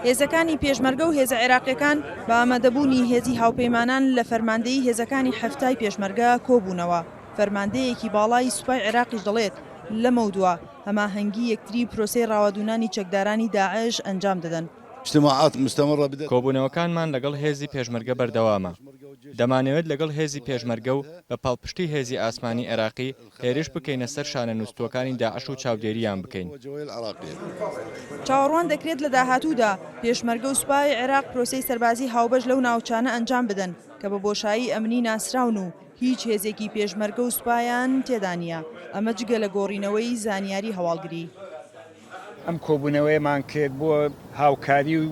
هێزەکانی پێشمەرگە و هێزە عێراقییەکان بە ئامادەبوونی هێزی هاوپەیمانان لە فەرماندەیی هێزەکانی حەفتای پێشمەرگە کۆبوونەوە، فەرماندەیەکی باڵای سوپای عێراقیش دەڵێت، لەمەودوا هەماهەنگی یەکتری پرۆسەی ڕاوەدوونانی چەکدارانی داعش ئەنجام دەدەن. کۆبوونەوەکانمان لەگەڵ هێزی پێشمەرگە بەردەوامە، دەمانەوێت لەگەڵ هێزی پێشمەرگە و بە پاڵپشتی هێزی ئاسمانی عێراقی هێرش بکەینە سەر شانە نوستووەکانی داعش و چاودێرییان بکەین. چاوەڕوان دەکرێت لە داهاتوودا پێشمەرگە و سوپای عێراق پرۆسەی سەربازی هاوبەش لەو ناوچانە ئەنجام بدەن کە بە بۆشایی ئەمنی ناسراون و هیچ هێزێکی پێشمەرگە و سوپایان تێدا نییە، ئەمە جگە لە گۆڕینەوەی زانیاری هەواڵگری. ئەم کۆبوونەوەیەمان کرد بۆ هاوکاری و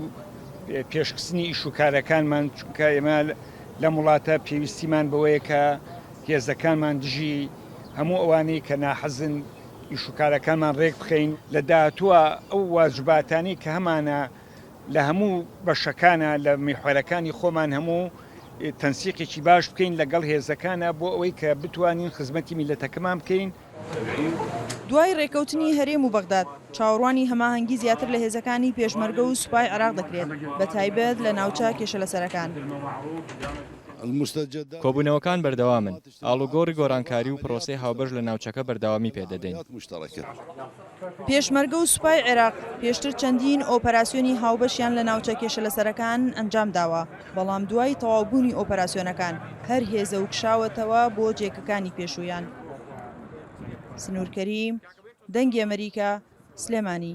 پێشخستنی ئیش و کارەکانمان چونکە ئێمە لەم وڵاتە پێویستیمان بەوەیە کە هێزەکانمان دژی هەموو ئەوانەی کە ناحەزن ئیش و کارەکانمان ڕێک بخەین لە داهاتووە ئەو واجباتانی کە هەمانە لە هەموو بەشەکانە لە میحوەرەکانی خۆمان هەموو تەنسیقێکی باش بکەین لەگەڵ هێزەکانە بۆ ئەوەی کە بتوانین خزمەتی میلەتەکەمان بکەین. دوای رێککەوتنی هەرێم و بەغداد، چاوەڕوانی هەماهەنگی زیاتر لە هێزەکانی پێشمەرگە و سوپای عێراق دەکرێت، بەتایبەت لە ناوچە کێشەلەسەرەکان. کۆبوونەوەکان بەردەوامن، ئاڵوگۆڕی گۆڕانکاری و پرۆسەی هاوبەش لە ناوچەکە بەردەوامی پێدەدەین. پێشمەرگە و سوپای عێراق پێشتر چەندین ئۆپەراسیۆنی هاوبەشیان لە ناوچە کێشەلەسەرەکان ئەنجام داوە، بەڵام دوای تەواوبوونی ئۆپەراسیۆنەکان هەر هێزە و کشاوەتەوە بۆ جێکەکانی پێشوویان. سنوور کەریم، دەنگی ئەمەریکا، سلێمانی.